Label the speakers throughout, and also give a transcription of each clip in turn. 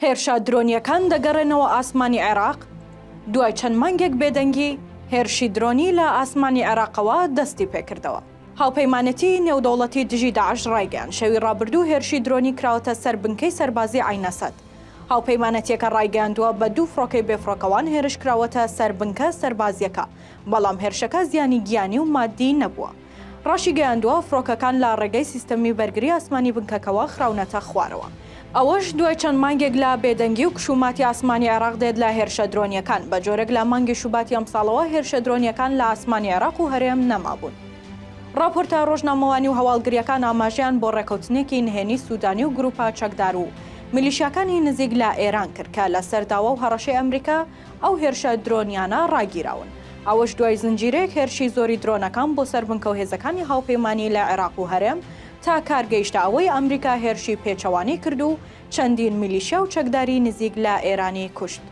Speaker 1: هێرشە درۆنییەکان دەگەڕێنەوە ئاسمانی عێراق، دوای چەند مانگێک بێدەنگی، هێرشی درۆنی لە ئاسمانی عێراقەوە دەستیپێکردەوە. هاوپەیمانێتیی نێودەوڵەتی دژی داعش ڕایگەیاند، شەوی ڕابردوو هێرشی درۆنی کراوەتە سەر بنکەی سەربازیی عەین ئەسەد. هاوپەیمانەتییەکە ڕایگەیاندووە، بە دوو فڕۆکەی بێفڕۆکەوان هێرشکراوەتە سەر بنکە سەربازییەکە، بەڵام هێرشەکە زیانی گیانی و ماددیی نەبووە. ڕاشیگەیاندووە، فڕۆکەکان لە ڕێگەی سیستەمی بەرگری ئاسمانی بنکەکەوە خراونەتە خوارەوە. ئەوەش دوای چەند مانگێک لە بێدەنگی و کشوماتی ئاسمانی عێراق دێت لە هێرشە درۆنییەکان، بە جۆرێک لە مانگی شوباتی ئەمساڵەوە هێرشە درۆنییەکان لە ئاسمانی عێراق و هەرێم نەمابوون. ڕاپۆرتە ڕۆژنامەوانی و هەواڵگرییەکان ئاماژەیان بۆ ڕێککەوتنێکی نهێنی سودانی و گروپە چەکدار و میلیشیاکانی نزیک لە ئێران کرد کە لەسەر داوا و هەڕەشەی ئەمریکا، ئەو هێرشە درۆنییانە ڕاگیراون. ئەوەش دوای زنجیرەیەک هێرشی زۆری درۆنەکان بۆ سەر بنکە و هێزەکانی هاوپەیمانی لە عێراق و هەرێم تا کار گەیشتە ئەوەی ئەمریکا هێرشی پێچەوانەی کرد و چەندین میلیشیا و چەکداری نزیک لە ئێرانی کوشت.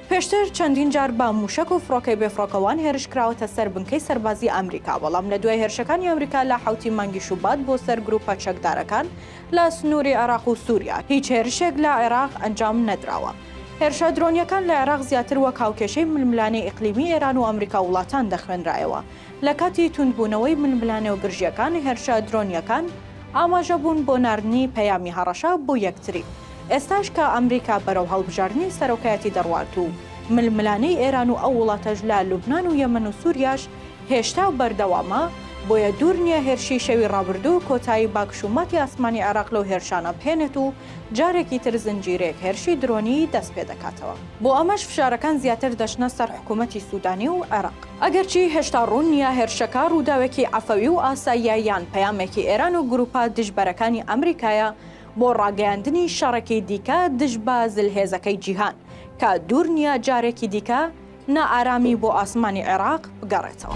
Speaker 1: پێشتر چەندین جار بە مووشەک و فڕۆکەی بێفڕۆکەوان هێرش کراوەتە سەر بنکەی سەربازی ئەمریکا، بەڵام لە دوای هێرشەکانی ئەمریکا لە حەوتی مانگی شوبات بۆ سەر گرووپە چەکدارەکان لە سنووری عێراق و سووریا هیچ هێرشێک لە عێراق ئەنجام نەدراوە. هێرشە درۆنییەکان لە عێراق زیاتر وەک هاوکێشەی ململانێی ئیقلیمی ئێران و ئەمریکا و وڵاتان دەخوێنرایەوە. لە کاتی توندبوونەوەی ململانێ و گرژییەکان، هێرشە درۆنییەکان ئاماژە بوون بۆ ناردنی پەیامی هەڕەشە بۆ یەکتری. ئێستاش کە ئەمریکا بەرەو هەڵبژاردنی سەرۆکایەتی دەڕوات و ململانێی ئێران و ئەو وڵاتەش لە لوبنان و یەمەن و سووریاش هێشتا بەردەوامە، بۆیە دوور نییە هێرشی شەوی ڕابردوو کۆتایی بە کشوماتی ئاسمانی عێراق لەو هێرشانە بهێنێت و جارێکی تر زنجیرەیەک هێرشی درۆنی دەست پێ دەکاتەوە. بۆ ئەمەش فشارەکان زیاتر دەچنە سەر حکوومەتی سوودانی و عێراق. ئەگەرچی هێشتا ڕوون نییە هێرشەکە ڕووداوێکی عەفەوی و ئاساییە یان پەیامێکی ئێران و گرووپە دژبەرەکانی ئەمریکایە بۆ ڕاگەیاندنی شەڕێکی دیکە دژ بە زلهێزەکەی جیهان کە دوور نییە جارێکی دیکە نائارامی بۆ ئاسمانی عێراق بگەڕێتەوە.